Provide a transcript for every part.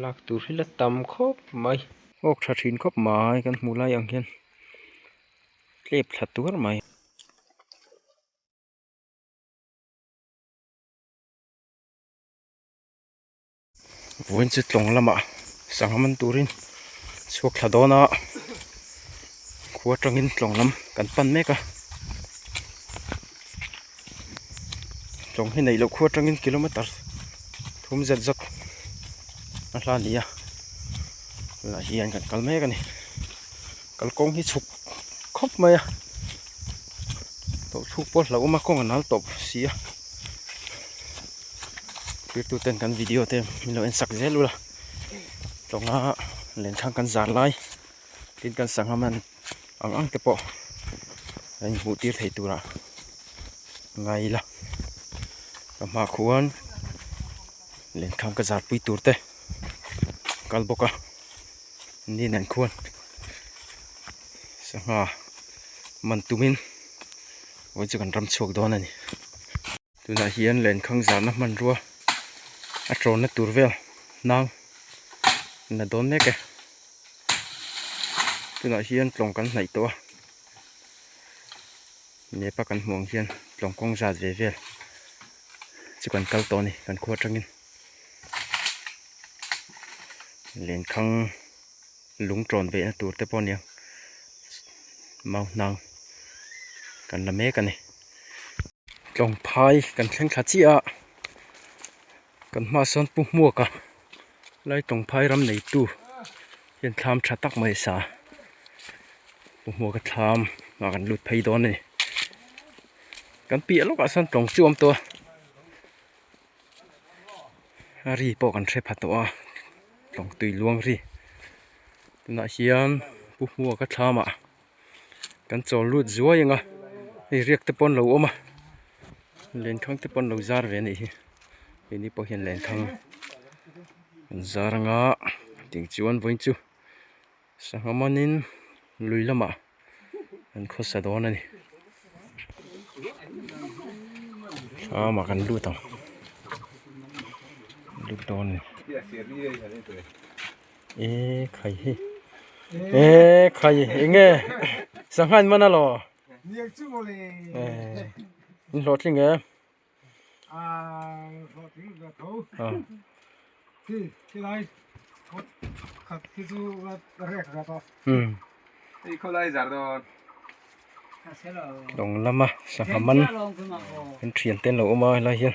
lak tur hi la tam khawp mai awk tha thin khawp mai kan hmuh lai ang hian tlep thla tuar mai. Vawiin chu tlawng lamah sangha man turin chhuak thla dawn a khua tangin tlawng lam kan pan mek a. Chawng hi neih loh khup atangin kilometer thum zet zet a hla a ni a, tunah hian kan kal mek a ni, kalkawng hi chhuk khawp mai a, tawlhchuk pawh a hlauhawm a kawng a nal tawp si a, zirtirtute'n kan video te min lo en sak zel ula, tawnga len thlang kan zar lai tin kan sangha man. ang ang te pawh kan inhmuh tir theih turah nga ila ka hmaah khuan lehkhan ka zar pui tur te ka kal bawk a ni neih khuan sangha man tumin vawiin chu kan ram chhuak dawn a ni. tunah hian len khang zahna hmanrua a tlawhna tur vel hnang in a dawn mek e tunah hian tlawng kan hnaih tawh a map a kan hmuh ang hian tlawng kawng zat ve vel chu kan kal tawh a ni kan khua tangin len khang lung tlawn ve na tur te pawh a ni ang mau hnang kan la mek a ni. Tlawngphai kan thleng thla chiah a, kan hma ah sawn Pu Hmuaka Lai Tlawngphai ram neitu hian thlam tha tak mai a sa a, Pu Hmuaka thlam ah kan lut phei dawn a ni, kan piah lawk ah sawn tlawng chu awm tawh a, ri pawh kan hre pha tawh a, tlawng tui luang ri tunah hian Pu Hmuaka thlam ah-- kan chawl lut zuai anga hei riak te pawh an lo awm a len thang te pawh an lo zar ve a nih hi keini pawh hian len thang an zar anga tih chuan vawi chu sangha manin lui lamah an khawsa dawn a ni hlam ah kan lut ang lut dawn a ni. ee khai hi ee khai eng nge sangha in man a law ee in hlawh thleng e dawng lama sangha man thian te an lo awm a helai hian.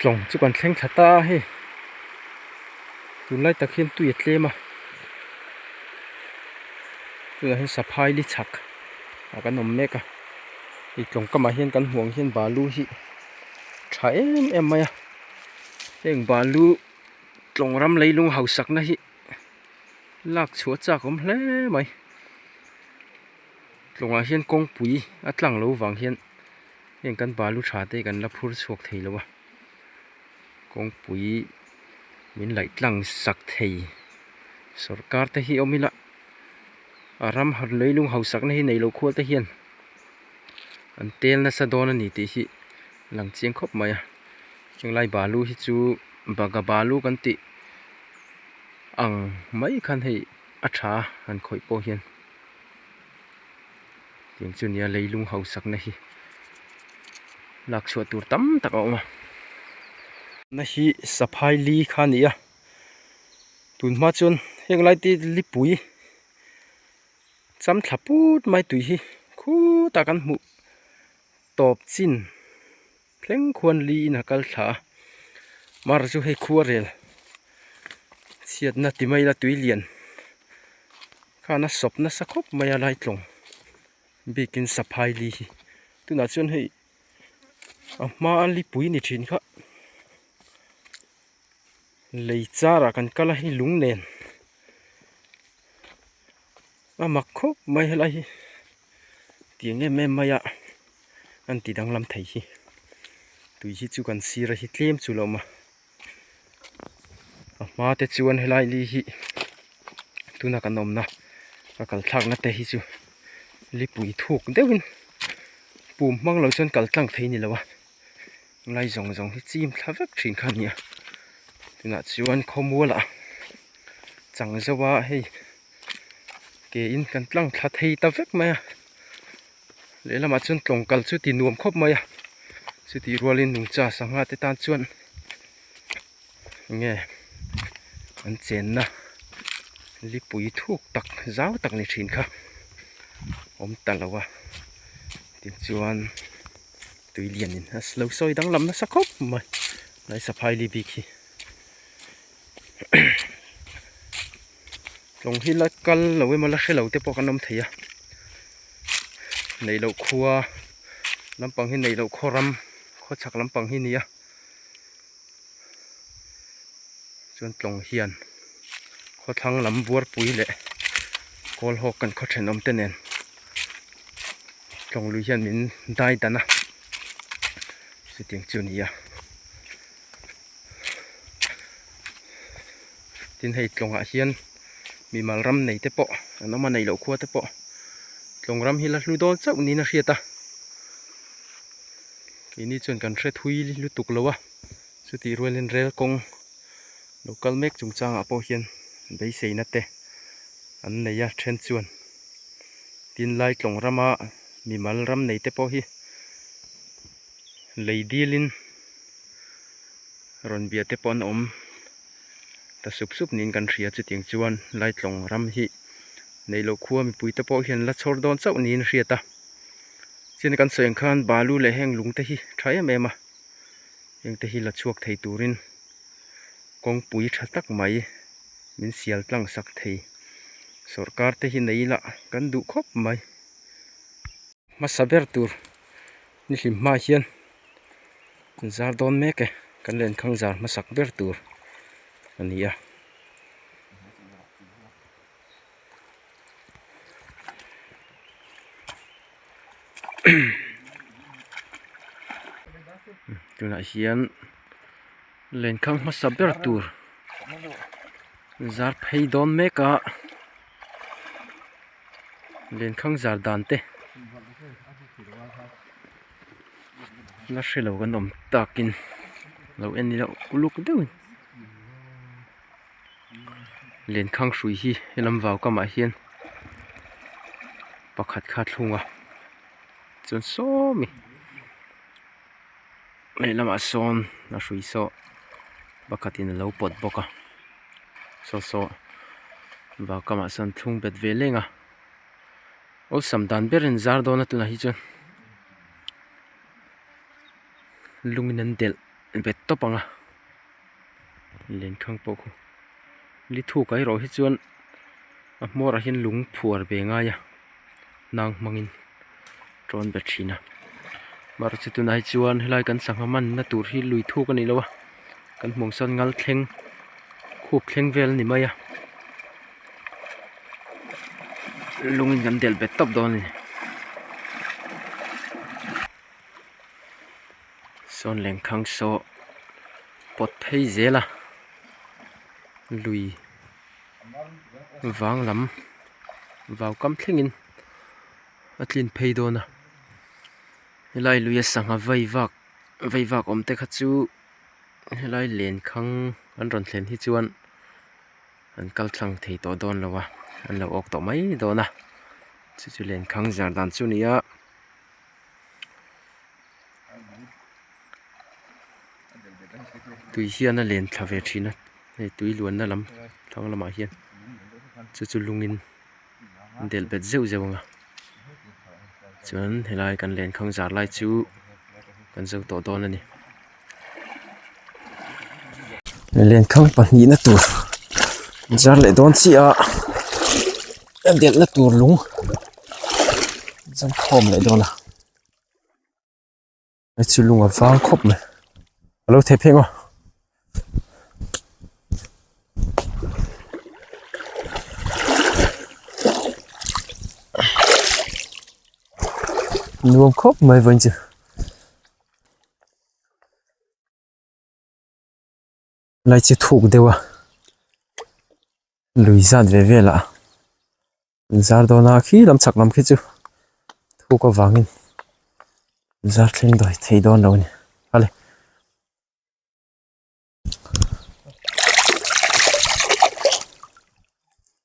tlawng chu kan thleng tha ta a hei tunlai tak hian tui a tlem a tunah hian saphai li chhak ah kan awm mek a hei tlawng kam ah hian kan hmuh ang hian balu hi tha em em mai a heng balu tlawng ram lei lung hausak na hi lak chhuah chak awm hle mai tlawng ah hian kawngpui a tlang lo vang hian-- Heng kan balu tha te kan la phur chhuak thei lo a, kawngpui min laih tlang sak thei sawrkar te hi awm ila a ram haw lei lung hausak na hi nei lo khualte hian an tel nasa dawn a ni tih hi lang chiang khawp mai a, heng lai balu hi chu baga balu kan tih ang mai khan hei a tha a han khawih pawh hian. Tiang chu nia leilung hausakna hi lakchhuah tur tam tak a awm a. Na hi saphai li kha a ni a, tun hma chuan heng lai te lipui cham thla put mai tui hi khutah kan hmuh tawp chin. Thleng khuan li in a kal thla a, mar chu hei khuarel chhiatna ti mai la tui lian khan a sawp nasa khawp mai a lai tlawng bikin saphai li hi. Tunah chuan hei a hma a lipui ni thin kha. Lei char ah kan kal a i lung nen a mak khawp mai helai hi tiang em em mai a an ti danglam thei hi tui hi chu kan sir a hi tlem chu lawm a a hma te chuan helai li hi tuna kan awm na ka kal thlak na te hi chu lipui thuk deuh in pum hmang lo chuan kal tlang thei ni lo a. Lai zawng zawng hi chim thla vek thin kha a ni a tunah chuan khawmual ah chang zeuh a hei ke in kan tlang thla thei ta vek mai a lehlamah chuan tlawngkal chu ti nuam khawp mai a chutih rualin nungcha sangha te tan chuan enge an chenna lipui thuk tak zau tak ni thin kha awm ta lo a tichuan-- tui lian in a lo sawi danglam nasa khawp mai lai saphaili bik hi tlawng hi la kal lo em a la hre lo te pawh kan awm thei a neih loh khua lampang hi neih loh khaw ram khaw chhak lampang hi a ni a. chuan tlawng hian khawthlang lam buarpui leh kawlhawk kan khaw thenawm te nen tlawng lui hian min dai dan a chutiang chu ni a tin hei tlawngah hian-- mimal ram nei te pawh an awm a neih loh khua te pawh tlawng ram hi la hlu dawn chauh niin a hriat a keini chuan kan hre thui lutuk lo a chutih rual in rel kawng lo kal mek chung chang ah pawh hian beisei na te an nei a then chuan tin lai tlawng ram a mimal ram nei te pawh hi lei dil in rawn bia te pawh an awm. ta sup sup niin kan hria chutiang chuan Laitlawng ram hi neilo khua mipui te pawh hian la chhawr dawn chauh niin hriat a, chin kan sawi ang khan balu leh heng lung te hi tha em em a, heng te hi la chhuak thei turin kawngpui tha tak mai min sial tlang sak thei, sawrkar te hi nei ila kan duh khawp mai, hmasa ber tur nihlim hma hian zar dawn mek e kan len khang zar hmasak ber tur a ni a tunah hian len khang hmasa ber tur zar phei dawn mek a. lehkhang zar dan te la hre lo kan awm tak in lo en ni loh uluk deuh in lehkhang hrui hi he lam vau kam ah hian pakhat kha a thlung a chuan sawmi. lehlamah sawn a hrui sawh pakhatin alo pawt bawk a saw sawh vau kamah sawn thlung bet ve leng a awlsam dan ber in zar dawn a tunah hi chuan lungin an delh bet tawp ang a. lengthang pawh khaw li thu kai rawh hi chuan a hmawr ah hian lung phuar ve ngai a nang hmang in tawn be thin a mar chi tunah hi chuan helai kan sangha man na tur hi lui thuk a ni lo a kan hmuh ang sawn ngal thleng khup thleng vel a ni mai a lung in kan del bet tawp dawn a ni. Sawn Lengkhang saw pawt phei zel a lui vang lam vau kam thlengin a tlin phei dawn a helai lui a sangha vai vak vai vak awm te kha chu helai Lengkhang an rawn thlen hi chuan an kal thlang thei tawh dawn lo a an lo awk tawh mai dawn a chu chu Lengkhang zar dan chu a ni a. tui hian a len thla ve thin a hei tui luanna lam thlang lamah hian chu chu lungin del bet zeuh zeuh ang a chuan helai kan len kham zar lai chu kan zo tawh dawn a ni len kham pahnih na tur in zar leh dawn chiah a a delh na tur lung zam khawm leh dawn a. hmeichhe lung a vang khawp mai a lo thek thek a. nuam khawp mai vawiin che. lai chi thuk deuh a lui zat ve vel ah in zar dawn a khi lam chak lam khi chu thuk avang in in zar thleng dawi thei dawn lo a ni a le.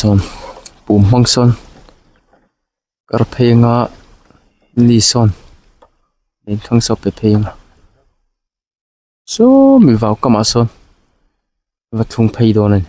sawn pum hmang sawn kar phei anga ni sawn eng thlang sawn pe phei anga. Sawmi vau kamah sawn va thlung phei dawn a ni.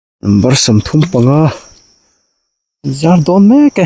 Number sam thum panga zar dawn mek e.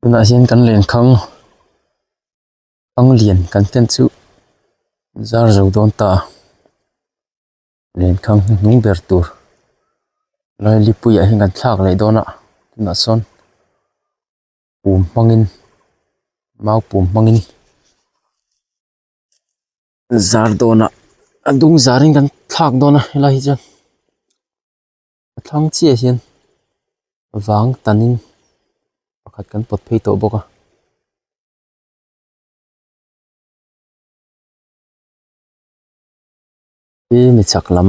tunah hian kan leng khang pang lian kan fian chu zar zo dawn ta. len khang hnu hnung ber tur lailipuiah hian kan thlak leh dawn a tunah sawn pum hmangin mau pum hmangin zar dawn ah a dung zar in kan thlak dawn a helai hi chuan a thlang chiah ah hian vang tan in pakhat kan pawt phei tawh bawk a. Hi mi chak lam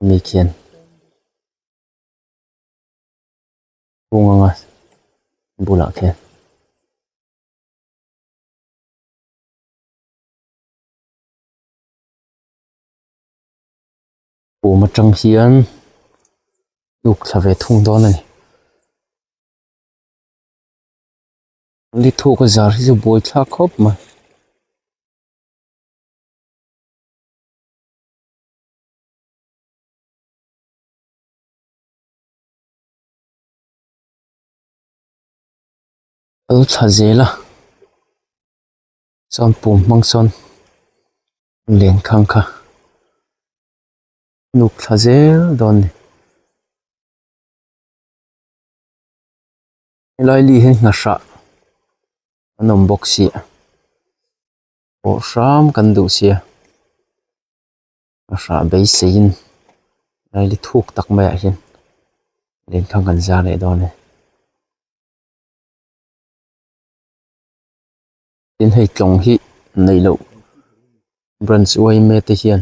mi khian hung anga bulah khian pum atang hian uk thla ve thung dawn a ni ni thuk a zar hi chu buai thlak khawp mai. Kal chhah zel a chuan pum hmang sawn len khang kha nuk thla zel dawn ni helai li hi hna hrah an awm bawk si. Pawh hram kan duh sia, ka hrah beiseiin Riley thuk tak maiah hian len thlang kan zar leh dawn a ni. Tin, hei tlawng hi neih loh branch uaime te hian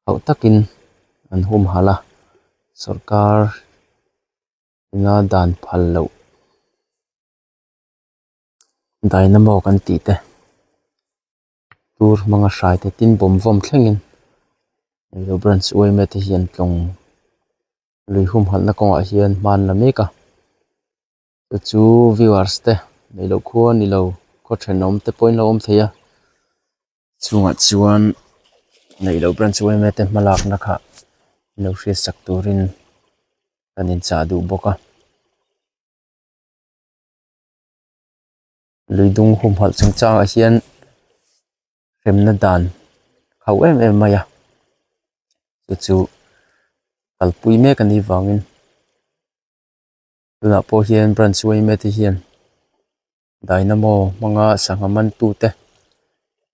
hauh takin an humhalh a, sawrkar ina dan phal loh. dynamo kan tih te tur hmanga hrai te tin bawm vawm thlengin eitur branch yma te hian tlawng lui humhalhna kawngah hian hmanla mek a te chu viewers te nei loh khua ni lo khaw then awm te pawhin a lo awm thei a chungah chuan nei loh branch yma te hma lakna kha i lo hriat sak turin kan inchah duh bawk a. lui dung humhalh chung changa hian remna dan hauh em em mai a chu chu kalpui mek anih vangin tunah pawh hian branch te hian dynamo hmanga sangha man tu te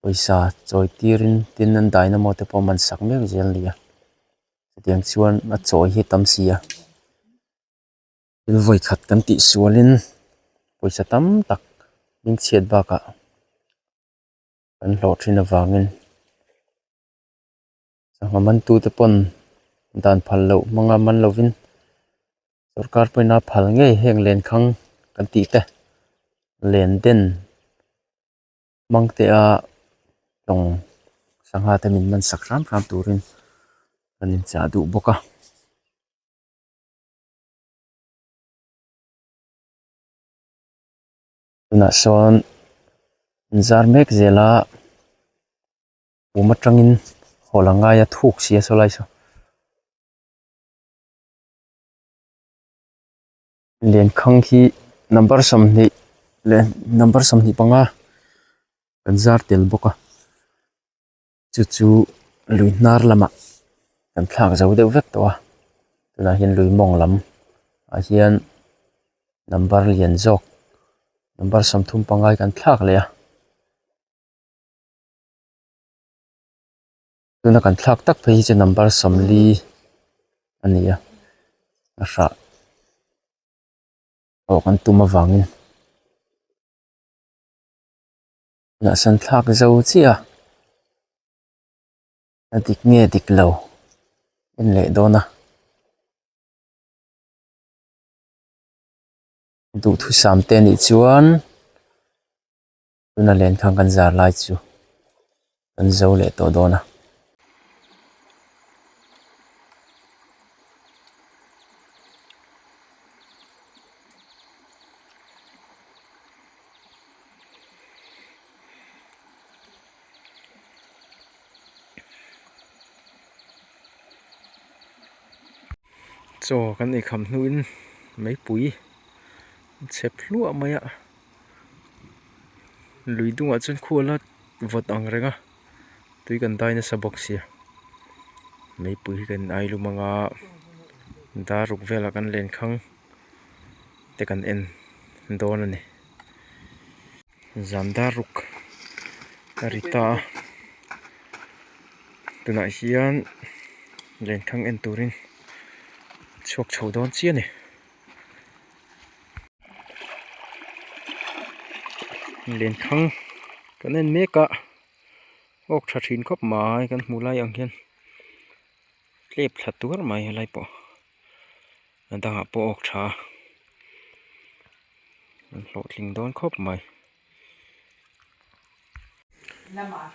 pawisa chawi tir in tin an dynamo te pawh a man sak mek zel a ni a hetiang chuan a chawi hi a tam si a. thil vawikhat kan tih sualin pawisa tam tak min chhiat bakah kan hlawh thin avangin sangha man tute pawn dan phal loh hmanga man lovin sorkar pawhina phal ngei heng len khang kan tih te len den hmang te a tawng sangha te min man sak hram hram turin kan inchah duh bawk a. tunah sawn inzar mek zela pum atangin haw la ngaia thuk si a saw lai saw len khang khi number sawmhnih leh number sawmhnih panga kan zar tel bawk a. chu chu lui hnar lamah kan thlak zo deuh vek tawh a tunah hian lui mawng lam ah hian number lian zawk number sawm thum pangai kan thlak leh a tuna kan thlak tak phei hi chu number sawmli a ni a a hrah awk an tum avangin. Mahse an thlak zo chiah a, a dik nge a dik lo en leh dawn a, duhthusam te nih chuan tuna len khan kan zar lai chu kan zo leh tawh dawn a. chaw kan ei kham hnuin meipui a chep thluah mai a lui dungah chuan khuala vawt angreng a. tui kan dai nasa bawk sia meipui hi kan inai lum anga dar ruk velah kan len khang te kan en dawn a ni zan dar ruk a ri ta a tunah hian len khang en turin chhuak chho dawn chiah a ni. len thang kan en mek a awk tha thin khawp mai kan hmuh lai ang hian tlep thla tuar mai a helai pawh a dangah pawh awk tha a an hlawhtling dawn khawp mai.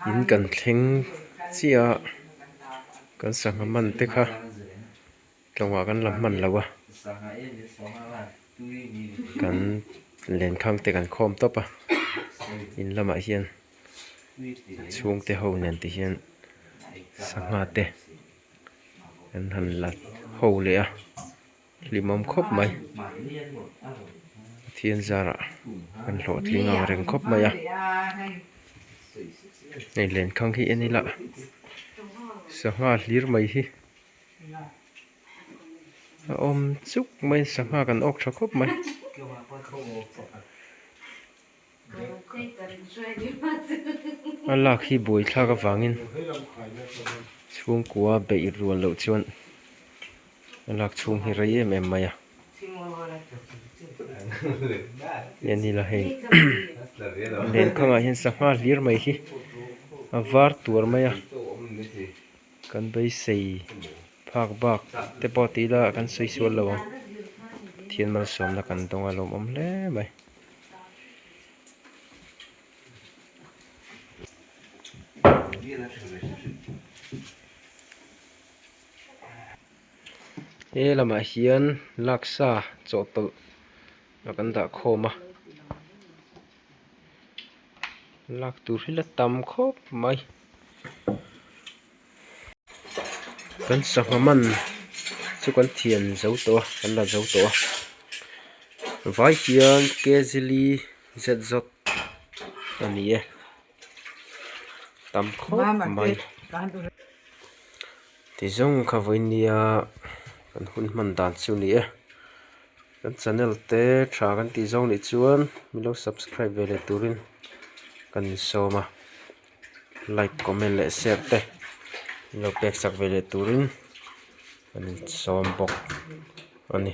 in kan thleng chiah a kan sangha man te kha tlawngah kan la hman lo a kan len khang te kan khawm tawp a in lamah hian chhungte ho nen te hian sangha te an han la ho leh a. Hlimawm khawp mai Pathian zarah kan hlawhtling ang reng khawp mai a hei len khang hi en ila sangha hlir mai hi a awm chuk mai sangha kan awk tha khawp mai. a lak hi buai thlak avangin chhungkua beih rual loh chuan a lak chhung hi rei em em mai a eng nila hei len khangah hian sangha hlir mai hi a var tuar mai a kan beisei phak bak te pawh tih ila kan sawi sual lo ang thianmal sawmna kan dawng alawm awm hle mai. he lamah hian laksa chawhtawlh a kan dah khawm a lak tur hi la tam khawp mai. kan sangha man chu kan thian zo tawh a kan la zo tawh a vai hian kzli zz a ni e tam khawp mai ti zawng kha vawinia kan hun hman dan chu ni e kan channel te tha kan tih zawng nih chuan milo subscribe ve leh turin kan insawm a. like comment leh share te i lo pek chak ve leh turin kan insawm bawk a ni.